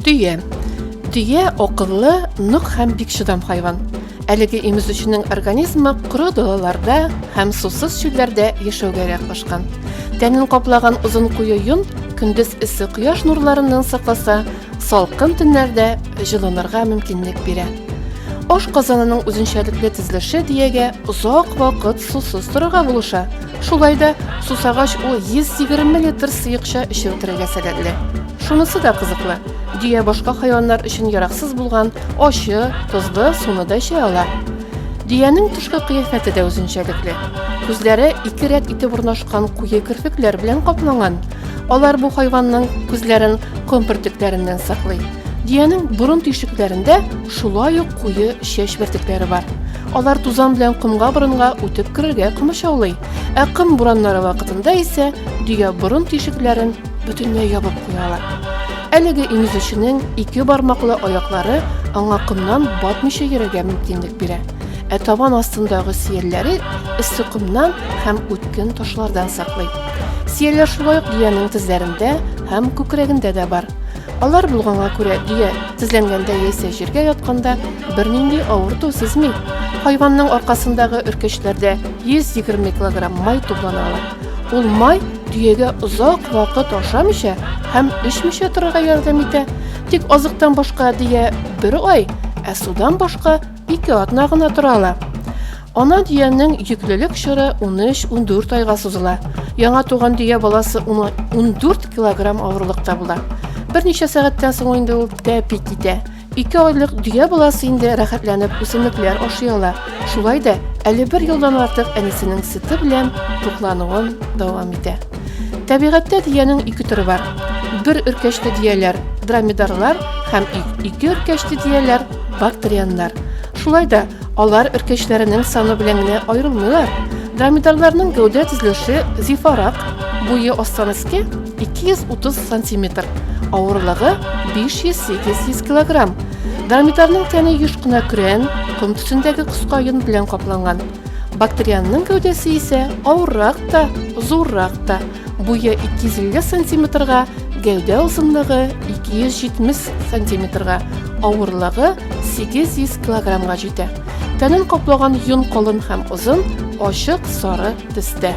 Дөя. Дөя акыллы, нык һәм бик чыдам хайван. Әлеге имезүченең организмы коры далаларда һәм сусыз чүлләрдә яшәүгә яраклашкан. Тәнен каплаган озын куе йон көндез эссе кояш нурларыннан сакласа, салкын төннәрдә җылынырга мөмкинлек бирә. Аш казанының үзенчәлекле тезлеше диягә озак вакыт сусыз торырга булыша. Шулай да сусагач ул 120 литр сыекча эчеп бетерергә сәләтле. Шунысы да кызыклы, Дөя башка хайваннар өчен яраксыз булган ачы, тозлы суны да эчә ала. Дөянең тышкы кыяфәте дә үзенчәлекле. Күзләре ике рәт итеп урнашкан куе керфекләр белән капланган. Алар бу хайванның күзләрен ком бөртекләреннән саклый. Дөянең борын тишекләрендә шулай ук куе чәч бөртекләре бар. Алар тузан белән комга борынга үтеп керергә комачаулый. Ә ком бураннары вакытында исә дөя борын тишекләрен бөтенләй ябып куялар. Әлеге иңүзүченең ике бармаклы аяклары аңа комнан батмыйча йөрергә мөмкинлек бирә. Ә табан астындагы сөялләре эссе комнан һәм үткен ташлардан саклый. Сөялләр шулай ук дөянең тезләрендә һәм күкрәгендә дә бар. Алар булганга күрә дөя тезләнгәндә яисә җиргә ятканда бернинди авырту сизми. Хайванның аркасындагы өркечләрдә 120 килограмм май туплана ала. Ул май Төягә озак вакыт ашамыйча һәм эчмичә торырга ярдәм итә. Тик азыктан башка дөя бер ай, ә судан башка ике атна гына тора ала. Ана дөянең йөклелек чоры 13-14 айга сузыла. Яңа туган дөя баласы 14 килограмм авырлыкта була. Берничә сәгатьтән соң инде ул тәпи китә. Ике айлык дөя баласы инде рәхәтләнеп үсемлекләр ашый ала. Шулай да әле бер елдан артык әнисенең сөте белән туклануын дәвам итә. Табигатьтә дөянең ике төре бар. Бер өркәчте дөяләр, дромедарлар һәм ике өркәчте дөяләр, бактерианнар. Шулай да Алар өркәчләренең саны белән генә аерылмыйлар. Дромедарларның гәүдә төзелеше зифарак, буе астан өскә 230 сантиметр, авырлыгы 500-800 килограмм. Дромедарлның тәне еш кына көрән, ком төсендәге кыска йон белән капланган. Бактерианның гәүдәсе исә авыррак та, зуррак та. Буе 250 сантиметрга, гәүдә озынлыгы 270 сантиметрга, авырлыгы 800 килограммга җитә. Тәнен каплаган йон калын һәм озын, ачык сары төстә.